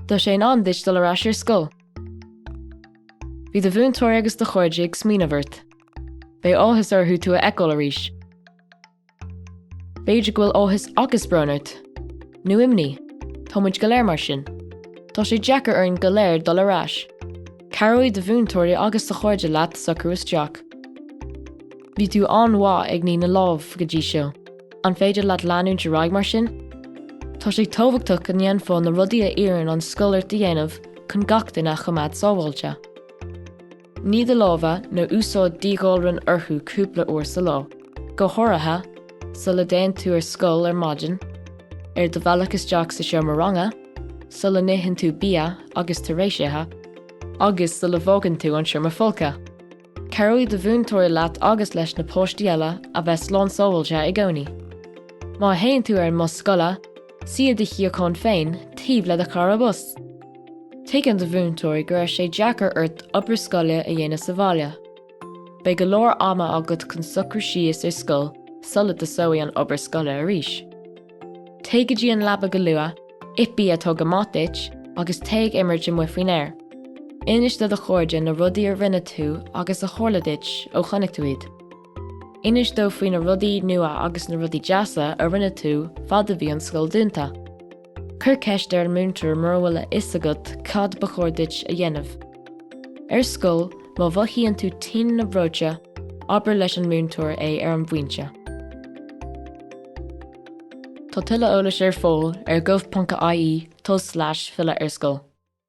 Tá sé in am duit dul ar ais ar scoil. Bhí do mhúinteoir agus do chairde ag smaoineamh ort. Beidh áthas orthu tú a fheiceáil arís. B'fhéidir go bhfuil áthas agus brón ort. Nó imní. Tá muid go léir mar sin. Tá sé deacair orainn go léir dul ar ais. Cabhróidh do mhúinteoirí agus do chairde leat socrú isteach. Bhí tú an-mhaith ag ní na lámh go dtí seo. An féidir leat leanúint ar aghaidh mar sin? Tá sé tábhachtach go ndéanfá na rudaí a iarrann an scoil ort a dhéanamh chun gach duine a choimeád sábháilte. Ní do lámha nó úsáid díghalrán orthu cúpla uair sa lá, go háirithe sula dtéann tú ar scoil ar maidin, ar do bhealach isteach sa seomra ranga, sula n-itheann tú bia agus tar éis ithe, agus sula bhfágann tú an seomra folctha. Cabhróidh do mhúinteoir leat agus leis na páistí eile a bheith slán sábháilte i gcónaí. Má théann tú ar an mbus scoile, suigh i do shuíochán féin taobh le do chara bus. Tuigeann do mhúinteoir go raibh sé deacair ort obair scoile a dhéanamh sa bhaile. Beidh go leor ama agat chun socrú síos ar scoil sula dtosóidh an obair scoile arís. Téigh go dtí an leaba go luath, ith bia atá go maith duit agus téigh ag imirt amuigh faoin aer. Inis do do chairde na rudaí a rinne tú agus a tharla duit ó chonaic tú iad. Inis dóibh faoi na rudaí nua agus na rudaí deasa a rinne tú fad a bhí an scoil dúnta. Cuir ceist ar an múinteoir mura bhfuil a fhios agat cad ba chóir duit a dhéanamh. Ar scoil, má mhothaíonn tú tinn nó breoite, abair leis an múinteoir é ar an bpointe. Tá tuilleadh eolais ar fáil ar gov.ie tulslais filleadh ar scoil.